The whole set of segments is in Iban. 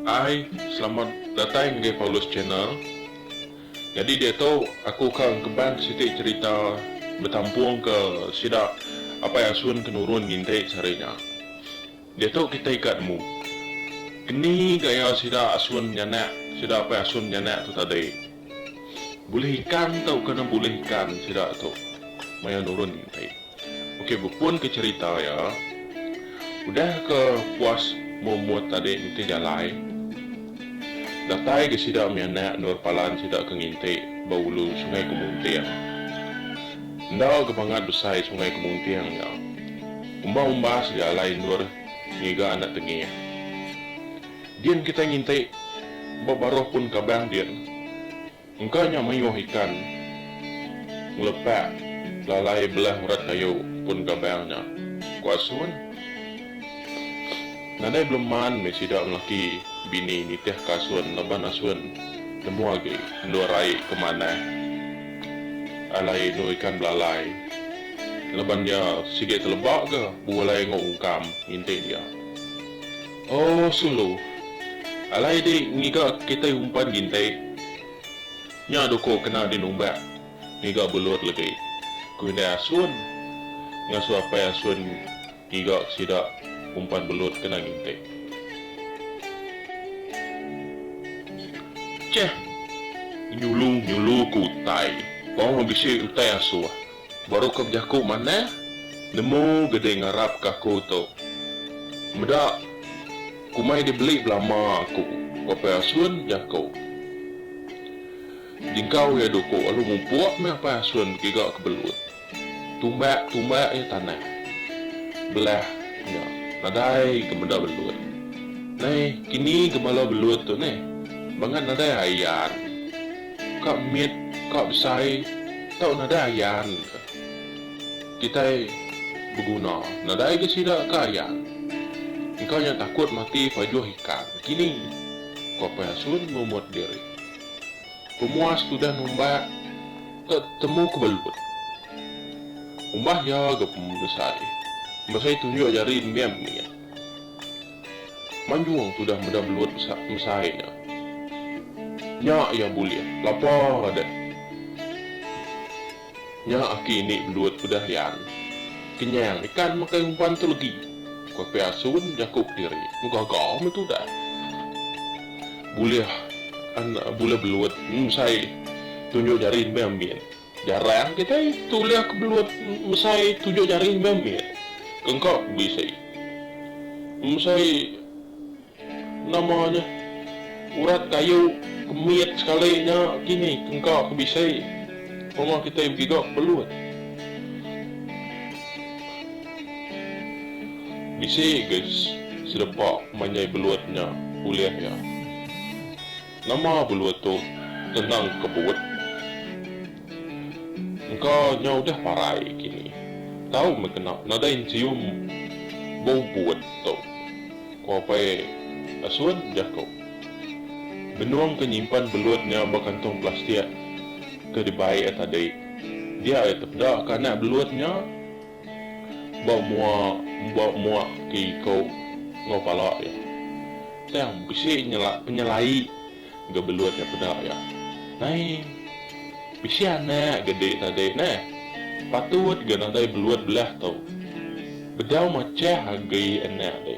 Hai selamat datai ngagai Paulus channel. Nyadi diatu aku ka engkeban siti cherita betampung ke sida apai asun ke nurun nginti sehari nya. Diatu kitai ika nemu. Ini gaya sida asun nyanak sida apai asun nyanak tu tadi. Bulih ikan tau ke ne bulih ikan sida tu maya nurun enti. Okey bepun ke cerita iya udah ke puas mumut tadi nitih jalai datai ga sida mih anak endur palan sida ke nginti ba ulu sungai kemunting. Enda ga bangat besai sungai kemunting nya. Umba-umba segalai endur ngiga anak tengih. Din kitai nginti ba baruh pun kabang din. Engka nya mayuh ikan ngelepak lalai belah urat kayu pun kabang nya, ku Asun. Nadai beleman meh sida lelaki bini nitihka Asun laban Asun nemu agi endur ai ke manah alai endur ikan belalai. Laban nya sigi teleba ga bulai enggau ungkam inti dia. Oh sulu. Alai di ngiga kitai umpan ginti. Nya duko kena di numbak ngiga belut legi, ku indai Asun ngasu apai Asun ngiga sida umpan belut kena ginti. Cheh. Nyulu nyulu ku utai. Tong bisi utai asuh. Baru ke bejaku manah, nemu ga deh ngarap ke aku tu. Meda kumai deh beli belama aku, Apai Asun bejaku. Jengkau iya duku lalu mupuk meh Apai Asun begiga ke belut. Tumbak tumbak iya tanah. Belah nya nadai ga meda belut. Nai kini ga bala belut tu neh bangat nadai ayan. ka mit, ka besai tau nadai ayan ka. Kitai beguna nadai ga sida ka ayan. Engka nya takut mati pajuh ikan kini, ku Apai Asun mumut diri. Pemuas tudah numbak ka temu ke belut. Umbah iya ga pembesai, pembesai tunjuk jari nembiak mit. Manjung tudah meda belut besai nya. Nya iya bulih, lapa deh. Nya aki ini belut udah yan. Kenyang ikan makai umpan tu legi, ku Apai Asun jaku kediri. Mu gaga meh tudah. Bulih anak bulih belut besai tunjuk jari embai ambin. Jarang kitai tulih ke belut mesai tujuh jari enggau mit. Kengko bisi. Mesai nama nya urat kayu ke mit sekali nya kini kengko ke bisi pemah kitai begiga ke belut. Bisi ga sedepa manjai belut nya ulih iya. Nama belua tu tenang kebut. Engka nya udah parai kini. Tau meh kena nadai ncium bau but tu, ku Apai Asun jaku. Benung ke nyimpan belut nya ba kantong plastik ke dibai iya tadi. Dia iya tepeda ke anak belut nya. Ba mua ba mua ti ko enggau pala iya. Tang bisi nyela penyelai ga belut nya peda iya. Nai bisi anak ga di tadi neh patut ga nadai belut belah tu. Bedau machah agi anak di.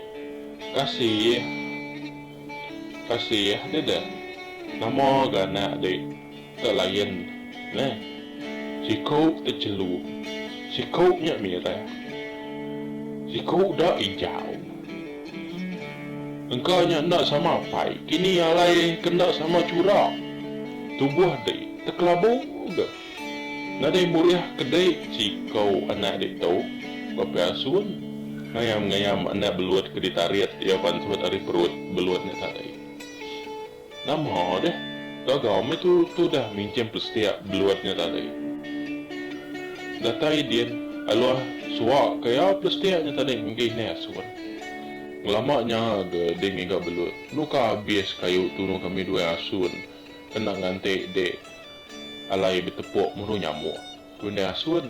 Kasih kasih deh deh nama ga anak di. Ke lain neh, siku te jelu, siku nya mireh, siku da ijau. Engka nya enda sama apai, kini alai ke enda sama chura. Tubuh di te kelabu ke nadai bulih ke di siku anak ditu baka asun ngayam-ngayam anak belut ke ditarit iya pansut ari perut belut nya tadi. Nama deh, gaga meh tu tudah minjam plastik beluat nya tadi. Datai din, aluh suak ke iya plastik nya tadi enggi neh asun. Ngelama nya ga din ngiga belut, nuka abis kayu tunu kami due asun kena nganti dik alai betepuk muru nyamuk. Ku indai asun.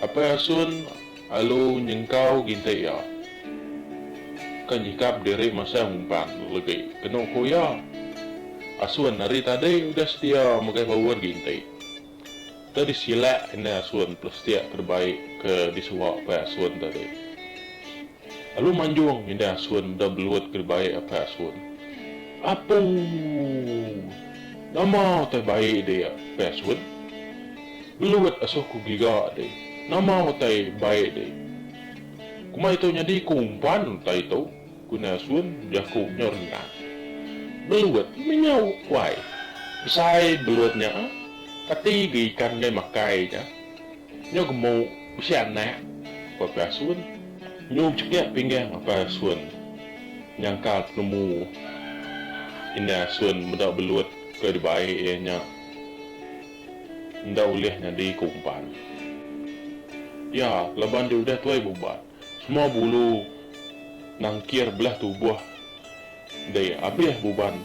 Apai Asun alu nyengkau gintik iya. Ka nyikap diri masang umpan legi kenu ku iya. Asun ari tadi udah setia mega baun gintik. Enda disilak indai Asun plastik ke debai ke disuak Apai Asun tadi. Lalu manjung ngindai asun meda belut ke dibai apai asun. Apuu! Nama utai bai deh apai asun? Belut asuh ku giga deh. Nama utai bai deh? Kuma ito nyadi ku umpan utai ito, ku indai asun bejaku nyau rendang. Belut menyau uai. Besai belut nya ah. Kati ga ikan deh makai nya. Nyu gemu bisi anak ba pelasun. Nyu bechekik pinggah ba pelasun nyangkal penemu indai asun meda belut ke dibai iya nya enda ulih nyadi ke umpan iya laban dia udah tuai beubat. Semua bulu nangkir belah tubuh dei abih buban.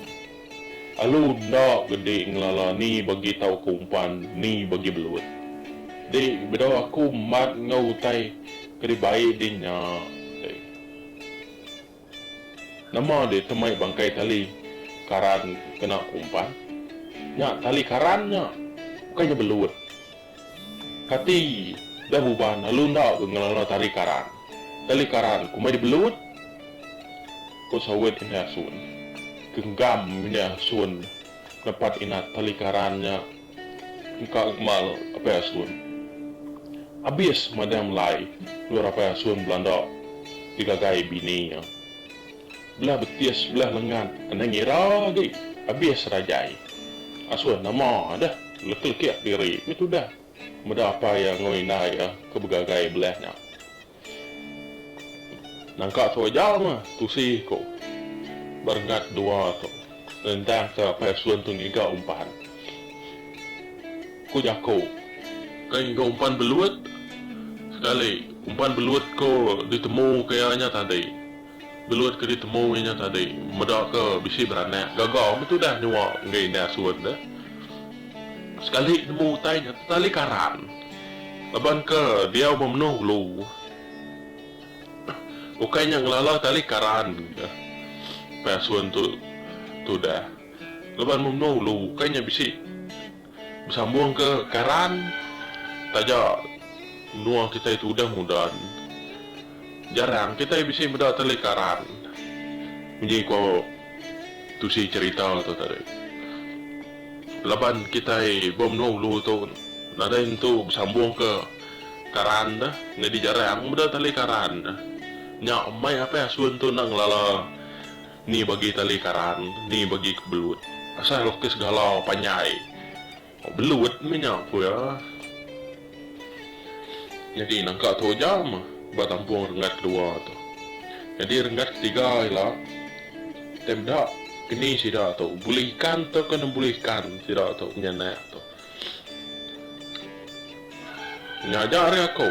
Alu enda bedi ngelala ni bagi tau ke umpan ni bagi belut. Di bedau aku mat enggau utai ke dibai di nya dei. Nama deh temai bangkai tali karan kena umpan? Nya tali karan nya, ukai nya belut. Kati deh uban lalu enda ke ngelala tali karan? Tali karan kumbai deh belut? Ku sawit Indai Asun. Genggam Indai Asun nepat inat tali karan nya. engka ngemal apai asun. Abis madang melai endur apai asun belanda digagai bini iya. Belah betis belah lengan anang ngira agi abis rajai. Asun nama deh leke-lekek diri meh tudah meda apai iya enggau indai iya ke begagai belah nya. Nangka tu aja mah tusi ku berengat dua tu nendang ke paisun tu ngiga umpan. Ku jaku ke ngiga umpan belut sekali umpan belut ko ditemu ke iya nya tadi. Gelut ke ditemu inya tadi meda ke bisi beranak gaga meh tudah nyua enggau indah asun deh. Sekali nemu utai nya tetali karan laban ke diau memenuh ulu. Ukai nya ngelala tali karan ke empai asun tu tudah laban memenuh ulu ukai nya bisi. Besambungka karan taja menua kitai ti udah moden, jarang kitai bisi meda tali karan munyi ko tusi cherita tu tadi. Laban kitai ba menua ulu tu nadai nentu besambungka karan deh nyadi jarang meda tali karan. Nya meh apai asun tu enda ngelala. Ni bagi tali karan, ni bagi ke belut. Asai lukis galau panjai. Oh belut meh nya ku iya. Nyadi nangka tu aja meh ba tampung renggat kedua tu. Nyadi renggat ketiga ila. Tei meda keni sida tu bulih ikan tauka nembuh ikan sida tu nya anak tu. Nya aja ari aku.